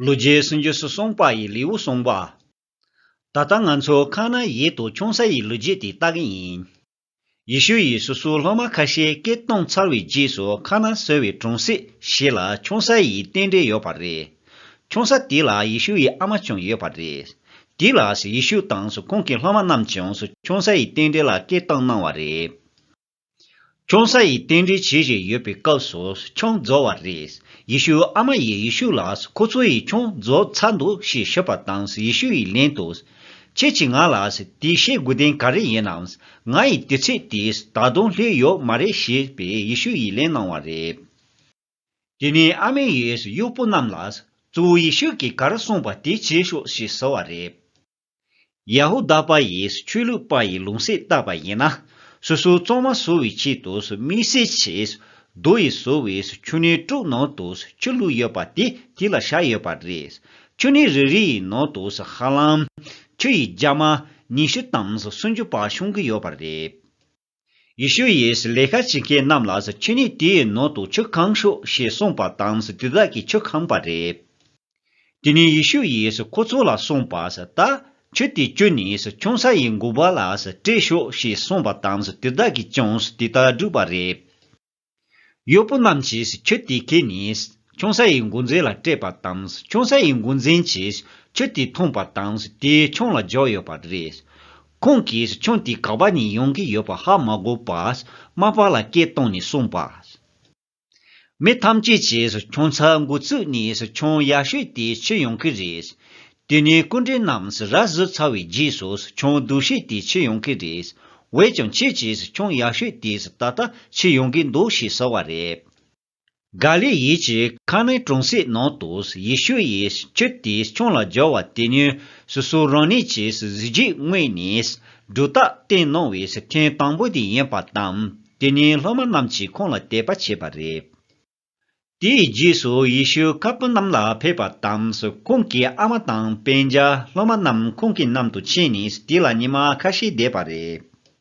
ལོ་བརྒྱའི་སྲིད་འབྱོར་སུ་སོང་པ་ཡི་ལེའུ་གསུངས་པ། ད་ལྟ་ང་ཚོ་ཁ་ན་ཡིད་དུ་ཆུང་ས་ཡི་ལོ་རྒྱས་དེ་ལྟ་གི་ཡིན། ཡེ་ཤུ་ཡིས་སོ་སོའི་སློབ་མ་ཁ་ཤས་སྐད་གཏོང་ཚར་བའི་རྗེས་སུ་ཁ་ན་གསོས་བའི་གྲོང་གསེབ་ཞིག་ལ་ཆུང་ས་ཡི་རྟེན་འབྲེལ་ཡོད་པ་རེད། ཆུང་ས་དེ་ལ་ཡེ་ཤུ་ཡི་ཨ་མ་ཀྱང་ཡོད་པ་རེད། དེ་ལ་ཡེ་ཤུ་དང་ཁོང་གི་སློབ་མ་རྣམས་ཀྱང་ཆུང་ས་ཡི་རྟེན་འབྲེལ་ལ་སྐད་གཏོང་གནང་བ་རེད། ཁྱོད་ས་ཡི་རྟེན་འབྲེལ་བྱེད་བཞིན་ཡོད་པའི་སྐབས་སུ་ཁྱོད་རྫོགས་བ་རེད། ཡེ་ཤུ་ཨ་མ་ཡིས་ཡེ་ཤུ་ལ་ཁོ་ཚོ་ཡིས་ཁྱོད་རྫོགས་ཚར་འདུག་ཞེས་ཤོད་པ་དང་ཡེ་ཤུ་ཡིས་ལན་དུ། ཁྱེད་ཀྱིས་ང་ལ་དེ་བཤད་དགོས་དོན་ག་རེ་ཡིན་ནམ། ང་ཡི་དུས་ཚོད་དེ་ད་དུང་སླེབས་ཡོད་མ་རེད་ཞེས་པའི་ཡེ་ཤུ་ཡིས་ལན་གནང་བ་རེད། དེ་ནས་ཨ་མས་ཡེ་ཤུ་ཡུལ་པོ་རྣམས་ལ། གཙོ་བོ་ཡེ་ཤུ་གིས་ག་རེ་གསུངས་པ་དེ་བྱེད་ཤོག་ཞེས་ཟེར་བ་རེད། ཡ་ཧུ་དཱ་པ་ཡིས་ཆོས་ལུགས་པ་ཡི་ལུང་ཟས་བཏགས་པ་ཡིན་ན། སོ་སོའི་གཙང་མ་བཟོ་བའི་ཆེད་དུ་མིའི་ཟས་བྱས། རྡོ་ཡིས་བཟོ་བའི་ཆུ་སྣའི་ཀྲོག་ནང་དུ་ཆུ་བླུགས་ཡོད་པ་དེ་དེ་ལ་བཞག་ཡོད་པ་རེད། ཆུ་སྣའི་རི་རེ་ཡི་ནང་དུ་ཧ་ལམ། ཆུ་ཡི་རྒྱ་མ། ཉི་ཤུ་དང་སུམ་ཅུ་བར་ཤོང་གི་ཡོད་པ་རེད། ཡེ་ཤུ་ཡིས་ལས་ཀ་བྱེད་མཁན་རྣམས་ལ་ཁྱེད་ཉིད་དེའི་ནང་དུ་ཆུ་གང་ཤོག་ཞེས་གསུངས་པ་དང་དེ་དག་གིས་ཆུ་གང་པ་རེད། དེ་ནས་ཡེ་ཤུ་ཡིས་ཁོ་ཚོ་ལ་གསུངས་པ། ད་ཆུ་དེ་བཅུ་ནས་ཆུང་ས་ཡི་མགོ་བ་ལ་སྤྲད་ཤོག་ཞེས་གསུངས་པ་དང་དེ་དག་གིས་ཀྱང་དེ་ལྟར་བསྒྲུབས་པ་རེད། གཡོག་པོ་རྣམས་ཀྱིས་ཁྱོད་དེ་གས་ནས། ཁྱུང་ས་ཡི་མགོ་མཛེས་ལ་སྤྲད་པ་དང། ཁྱུང་ས་ཡི་མགོ་མཛེས་ཀྱིས་ཁྱོད་དེ་མཐོང་པ་དང་དེས་ཁྱུང་ལ་འཇོག་ཡོད་པ་རེད། ཁོང་གིས་ཁྱུང་དེ་ག་པ་ནས་ཡོང་གི་ཡོད་པ་ཧ་མ་གོ་བར་རྨ་པ་ལ་སྐད་བཏང་ནས་གསུངས་པ། མི་ཐམས་ཅད་ཀྱིས་ཁྱུང་ཚ་མགོ་བཙུགས་ནས་ཁྱུང་ཡག་ཤོས་དེ་ཁྱེར་ཡོང་གི་རེད། དེ་ནས་སྐུ་འདྲེན་རྣམས་ར་བཟི་ཚར་བའི་རྗེས་སུ་ཁྱོད་འདུ་ཤེས་དེ་ཕྱིར་ཡོང་གི་རེད། འོད་ཀྱང་ཁྱེད་ཀྱིས་ཁྱོད་ཡག་ཤོས་དེས་ད་ལྟ་ཕྱིར་ཡོང་གི་འདུག་ཞེས་ཟེར་བ་རེད། ག་ལེ་ཡིད་ཀྱི་ཁ་ནི་གྲོང་གསེབ་ནང་དུ་ཡེ་ཤུ་ཡི་ཆུ་དེ་ཁྱོད་ལ་སྦྱར་བ་དེ་ནི་སོ་སོ་རང་ཉིད་ཀྱི་གཟི་བརྗིད་དངོས་ནས་སྒྲོ་བཏགས་བསྟན་གནང་བའི་མཁན་དང་པོ་དེ་ཡིན་པ་དང་དེ་ནས་སློབ་མ་རྣམས་ཀྱིས་ཁོང་ལ་དད་པ་བྱས་པ་རེད། དེའི་རྗེས་སུ་ཡེ་ཤུ་ཁ་སྤུ་གནམ་ལ་ཕེབས་པ་དང་ཁོང་གི་ཨ་མ་དང་པན་ཇཱ་སློབ་མ་རྣམས་ཁོང་གི་གནམ་དུ་ཕྱིན་ནས་དེ་ལ་ཉི་མ་ཁ་ཤས་བསྡད་པ་རེད།